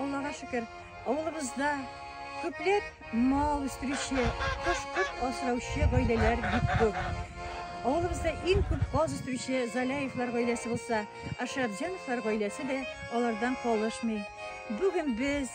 Аллага шөкер, авылыбызда күпләп мал үстерүче, кош-корт асраучы гаиләләр бик күп. Авылыбызда иң күп каз үстерүче Заляевлар гаиләсе булса, Ашрабҗановлар гаиләсе дә алардан калышмый. Бүген без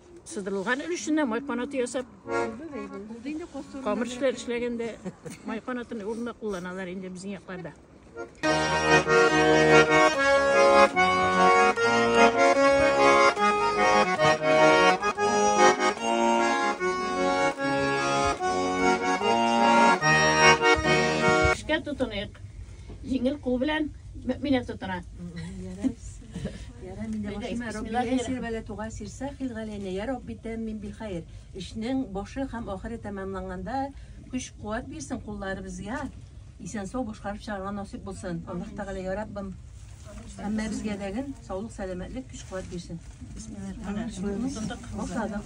Сыдырылган өлешеннән май канаты ясап, камыр эшләр эшләгәндә май канатын урынына кулланалар инде безнең якларда. Эшкә тотыныйк. Җиңел кул белән мөминә тотына. Эшнең башы һәм ахыры тәмамланганда көч-куәт бирсен кулларыбызга, исән-сау башкарып чыгарга насыйп булсын. Аллаһ Тәгалә, я Раббым, һәммәбезгә дә гел саулык-сәламәтлек, көч-куәт бирсен. Бисмиллаһ. Башладык.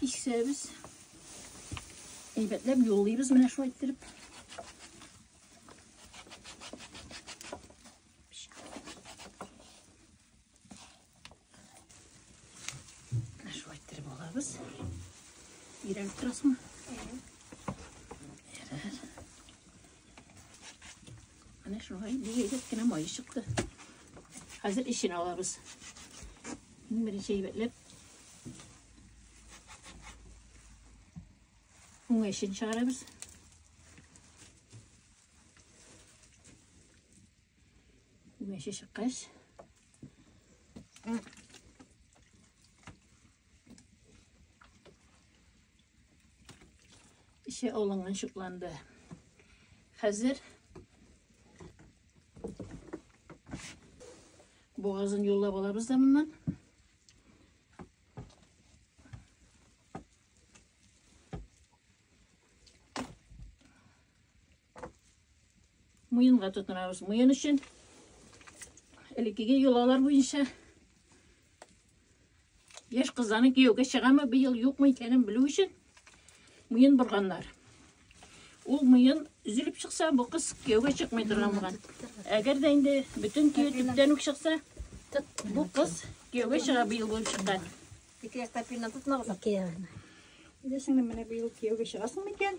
Кисәбез. Әйбәтләп юллыйбыз менә шулай иттереп. Шулай иттереп алабыз. Ирәлеп торасыңмы? Ярар. Менә шуңа инде егет кенә май чыкты. Хәзер эчен алабыз. Иң беренче әйбәтләп уңай эчен чыгарабыз. Уңай эче чыккач, Эче алынган шукланды. Хәзер бугазын юллап алабыз да моннан. Муенга тотынабыз. Муен өчен элеккеге йолалар буенча яшь кызларны кияүгә чыгамы быел юкмы икәнен белү өчен муен борганнар. Ул муен өзелеп чыкса, бу кыз кияүгә чыкмый торган булган. Әгәр дә инде бөтен кию төптән үк чыкса, бу кыз кияүгә чыга быел булып чыккан. Ике яктан пилнан тотмагыз. Ике ягына. Дисеңме, менә быел кияүгә чыгасың микән?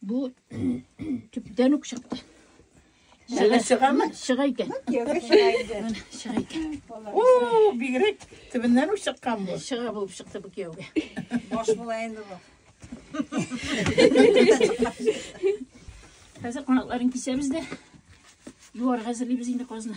Бу төптән үк чыкты. Шыга чыгамы? Шыга икән. Кияүгә чыга инде. Шыга икән. О, бигрәк төбеннән үк чыккан бу. Шыга булып чыкты бу кияүгә. Баш була инде бу. Хәзер канатларын кисәбез дә юарга әзерлибез инде казны.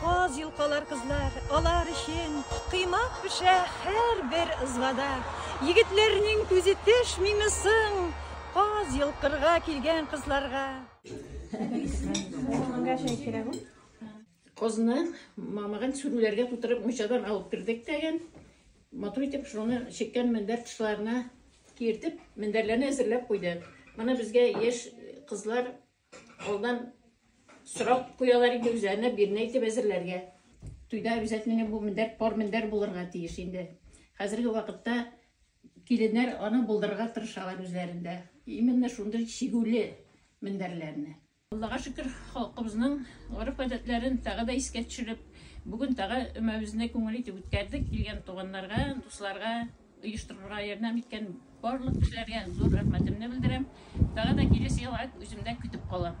Каз йолкалар кызлар, алар өчен Кыймак пешә һәрбер ызбада. Егетләрнең күзе төшмиме соң Каз йолкырга килгән кызларга? Козны мамыгын сүрүләргә тутырып мунчадан алып кердек тәген. Матур итеп шуны чеккән мендәр тышларына киертеп, мендәрләрне әзерләп куйдык. Моны безгә яшь кызлар алдан сорап куялар инде үзләренә бирнә итеп әзерләргә. Туйда обязательно бу мендәр пар мендәр булырга тиеш инде. Хәзерге вакытта киленнәр аны булдырырга тырышалар үзләрендә. Именно шундый чигүле мендәрләрне. Аллага шөкер, халкыбызның гореф-гадәтләрен тагы да искә төшереп, бүген тагы өмәбезне күңел итеп үткәрдек. Килгән туганнарга, дусларга, оештырырга ярдәм иткән барлык кешеләргә зур рәхмәтемне белдерәм. Тагы да киләсе елга үземдә көтеп калам.